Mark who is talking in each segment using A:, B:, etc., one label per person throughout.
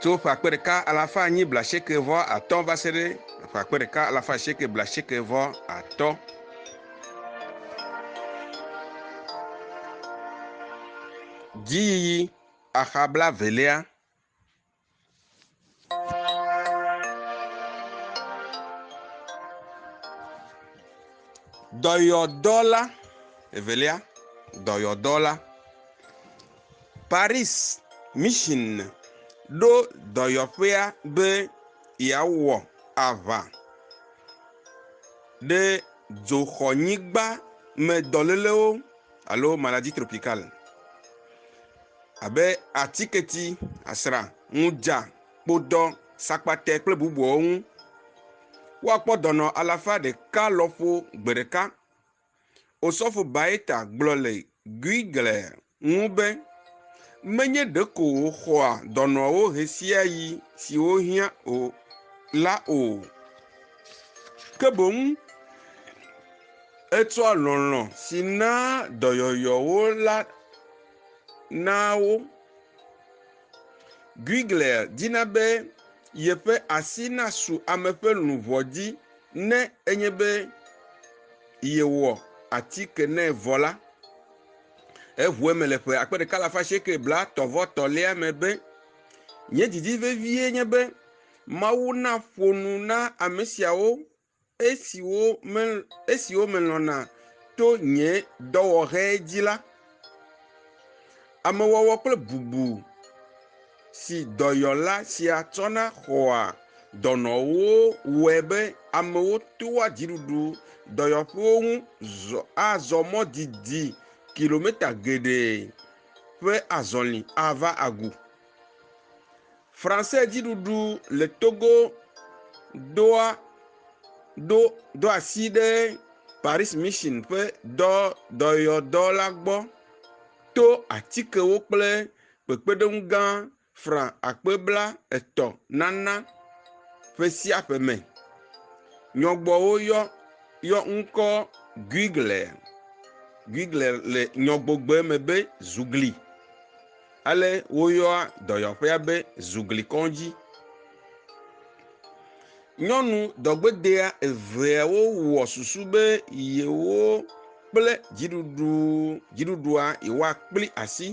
A: Tso ƒe akpe ɖeka alafa enyi blaasieke vɔ atɔ̃ va se ɖe ƒe akpe ɖeka alafa asieke blaasieke vɔ atɔ̃. Dziyiyi axa blaevelia. Dɔyɔdɔla evelia, dɔyɔdɔla. Paris Mission ɖo dɔyɔƒea be yeawɔ aʋa ɖe dzoxɔnyigba me dɔ lélewo alo maladie tropicale abe atiketi, asrã, ŋudza, kpodɔ, sakpate kple bubuawo ŋu. Woakpɔ dɔnɔ alafa ɖeka lɔƒo gbe ɖeka. Osɔfo Baeta gblɔ le Guigle ŋu be, Menye ɖeko wòxɔa dɔnɔwo ɣesiaɣi siwo hiã o la o, ke boŋ etsɔa lɔlɔ̃ si naa dɔyɔyɔwo la naa wo. Guigle dina be yeƒe asi nasu ame ƒe luʋɔ dzi Ne enye be yewɔ atike nɛ vɔ la, eʋu eme le ƒe akpe ɖeka alafa asieke blatɔ vɔ tɔ̃lia me be, Nye didi vevie nye be Mawu naƒo nu na ame siawo esiwo melɔ̃na to nye dɔwɔɣe dzi la. Amewɔwɔ kple bubu si dɔyɔla sia tsɔna xɔa dɔnɔwo wɔe be amewo toa dziɖuɖu dɔyɔƒewo ŋu zɔ azɔ mɔ didi kilometa geɖe ƒe azɔli ava agu. Français dziɖuɖu le Togo doa ɖo do asi ɖe Paris Mission ƒe dɔ dɔyɔdɔ la gbɔ to atikewo kple kpekpeɖeŋu gã fran akpe bla etɔ̃ nana ƒe sia ƒe me. Nyɔgbɔwo yɔ yɔ ŋkɔ Guigler, Guigler le nyɔgbogbe me be zugli. Ale woyɔa dɔyɔƒea be zuglikɔdzi. Nyɔnu dɔgbedea eveawo wɔ susu be yewo kple dziɖuɖu dziɖuɖua yewoakpli asi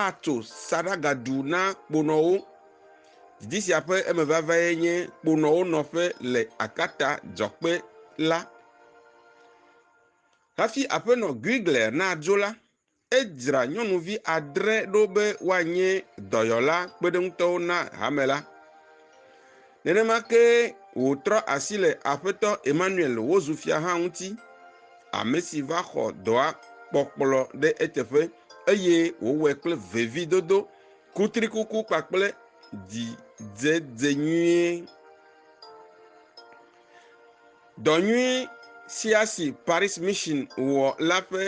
A: atso saɖagaɖu na kponɔwo. Didi sia ƒe emevavae nye kponɔwo nɔƒe le akpata dzɔkpe la. Hafi Aƒenɔ Guigler nadzo la, Edzra nyɔnuvi adre ɖo be woanye dɔyɔla kpeɖeŋutɔwo na hame la. Nenema ke wòtrɔ asi le Aƒetɔ Emmanuel wozu fia hã ŋuti, ame si va xɔ dɔa kpɔkplɔ ɖe eteƒe eye wòwɔe kple vevidodo, kutrikuku kpakple dzidzedze nyuie. Dɔ nyui sia si Paris Mission wɔ la ƒe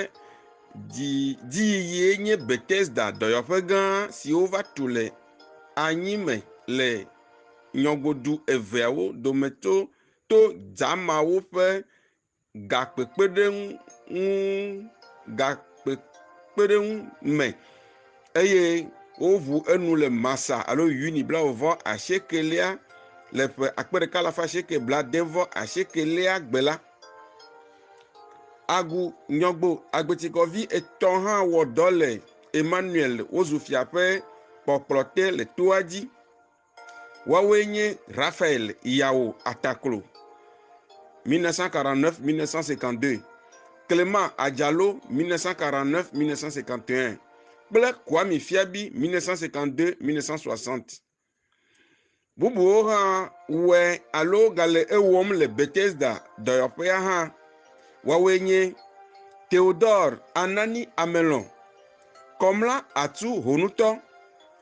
A: dziyiyie nye Bethesda dɔyɔƒe gã si wova tu le anyi me le nyɔgodu eveawo dometo to dza mawo ƒe gakpekpeɖeŋu ŋu gakpekpeɖeŋu me eye woʋu enu le Masa alo Yuni blaeve asiekɛlia le ƒe akpe ɖeka alafa asieke blaade vɔ asiekɛlia gbe la. Agu nyɔgbo agbetikɔvi etɔ̃ hã wɔ dɔ le Emmanuel wozu fia ƒe kpɔkplɔte le toa dzi. Woawoe nye Raphaël Yao Ataklo, 1949-1952, Clément Adjalo, 1949-1951, kple Kwame Fiabi, 1952-1960. Bubuwo hã wɔe alo gale ewɔm le Bethesda dɔyɔƒea hã. Woawoe nye Theodore Anani Amelon, Kɔmla Atu Honutɔ,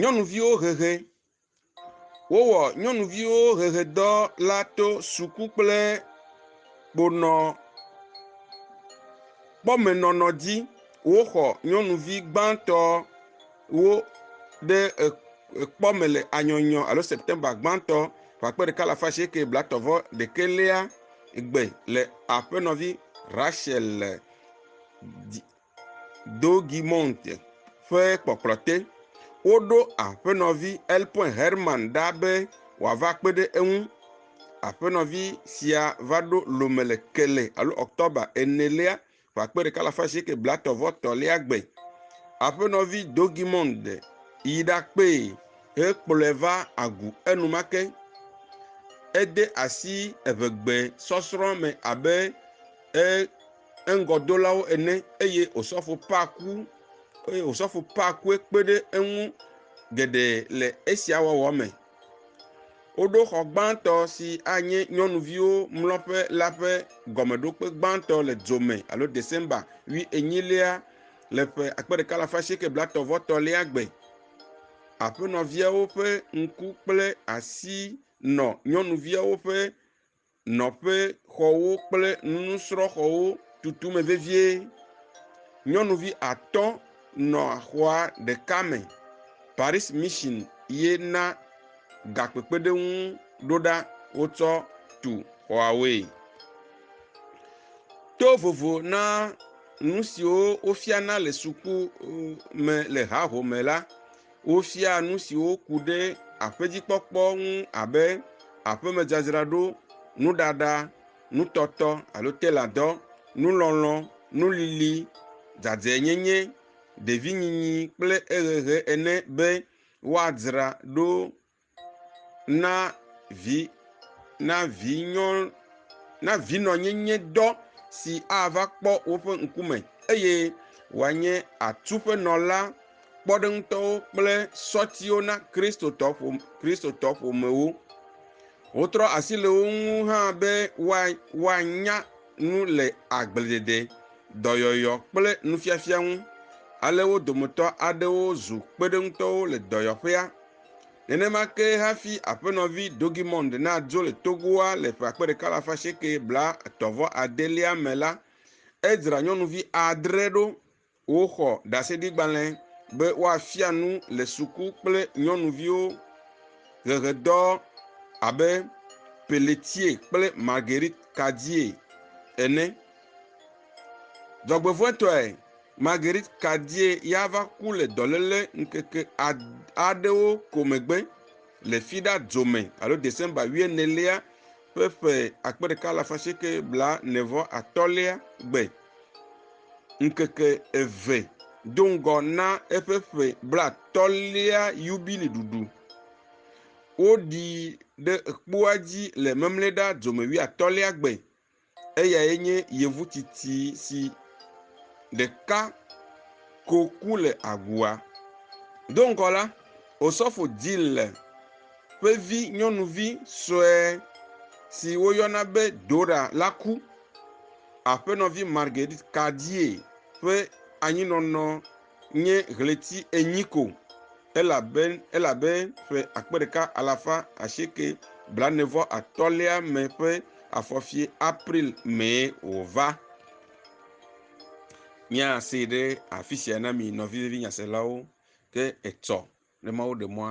A: Nyɔnuviwo hehe. Wowɔ nyɔnuviwo hehedɔ la to suku kple kponɔ kpɔmenɔnɔ dzi. Woxɔ nyɔnuvi gbãtɔ wo ɖe ekpɔ me le anyɔnyɔ alo Septemba gbãtɔ ƒe akpe ɖeka alafa asieke blatɔ vɔ ɖekɛlia gbe le aƒenɔvi Rachel dzi. Douaumont ƒe kpɔkplɔ te. Woɖo aƒenɔvi Elpin Herman ɖa be wòava kpe ɖe eŋu. Aƒenɔvi sia va ɖo Lome le Kele alo October enelia ƒe akpe ɖeka alafa asieke blaetɔ̃ vɔ etɔ̃lia gbe. Aƒenɔvi Douaumont yi ɖakpee hekplɔe va agu enumake. Ede asi eŋegbe sɔsrɔ̃ me abe e eŋgɔdolawo ene eye osɔfo paa ku eye osɔfo paa kue kpe ɖe eŋu geɖe le esia wɔwɔ me. Woɖo xɔ gbãtɔ si anye nyɔnuviwo mlɔƒe la ƒe gɔmeɖokpe gbãtɔ le dzome alo December ʋi enyilia le ƒe akpe ɖeka alafa asieke blatɔ vɔ tɔlia gbe. Aƒenɔviawo ƒe ŋku kple asi nɔ nyɔnuviawo ƒe nɔƒexɔwo kple nusrɔ̃xɔwo tutu me vevie. Nyɔnuvi atɔ̃ nɔ xɔa ɖeka me. Paris Mission ye na gakpekpeɖeŋu ɖo ɖa wotsɔ tu xɔawoe. To vovo na nu siwo wofiana le suku me le hahome la, Wofia nu siwo ku ɖe aƒedzikpɔkpɔ ŋu abe aƒemedzadzraɖo, nuɖaɖa, nutɔtɔ alo teladɔ, nulɔlɔ, nulili, dzadzɛnyenye, ɖevinyinyi kple ehehe ene be woadzra ɖo Na vi na vinyɔ na vinɔnyenye dɔ si ava kpɔ woƒe ŋkume eye wòanye atuƒenɔla kpɔɖeŋutɔwo kple sɔtiwo na Kristotɔ ƒome Kristotɔ ƒomewo. Wotrɔ asi le wo ŋu hã be woanya nu le agbledede, dɔyɔyɔ kple nufiafia ŋu. Ale wo dometɔ aɖewo zu kpeɖeŋutɔwo le dɔyɔƒea. Nenema ke hafi Aƒenɔvi Dogimond nadzo le Togoa le ƒe akpe ɖeka alafa asieke blaetɔ̃ vɔ adelia me la, edzra nyɔnuvi adre ɖo woxɔ ɖaseɖigbalẽ be woafia nu le suku kple nyɔnuviwo ʋeʋedɔ abe Pelletier kple Marguerite Cardier ene. Dzɔgbevɔ̃etɔe, Marguerite Kadie ya va ku le dɔléle ŋkeke aɖewo ko megbe le Fida Dzome alo Desemba wuienelia ƒe ƒe akpe ɖeka alafa asieke bla ne vɔ atɔ̃lia gbe. Ŋkeke eve do ŋgɔ na eƒe ƒe blatɔ̃lia yubili ɖuɖu. Woɖii ɖe kpua dzi le Memleda Dzome wuiatɔ̃lia gbe Eyae nye yevu tsitsi si ɖeka ko ku le agua. Do ŋgɔ la, Osɔfo Jill ƒe vi nyɔnuvi sue si woyɔna be Dora la ku. Aƒenɔvi Marguerite Cardier ƒe anyinɔnɔ nye ɣleti enyi ko elabe elabe ƒe akpe ɖeka alafa asieke blaene vɔ atɔ̃lia me ƒe afɔfie april mee wòva. Míase ɖe afi sia na mi nɔvi vevi nyaselawo ke etsɔ ne Mawu ɖe mɔa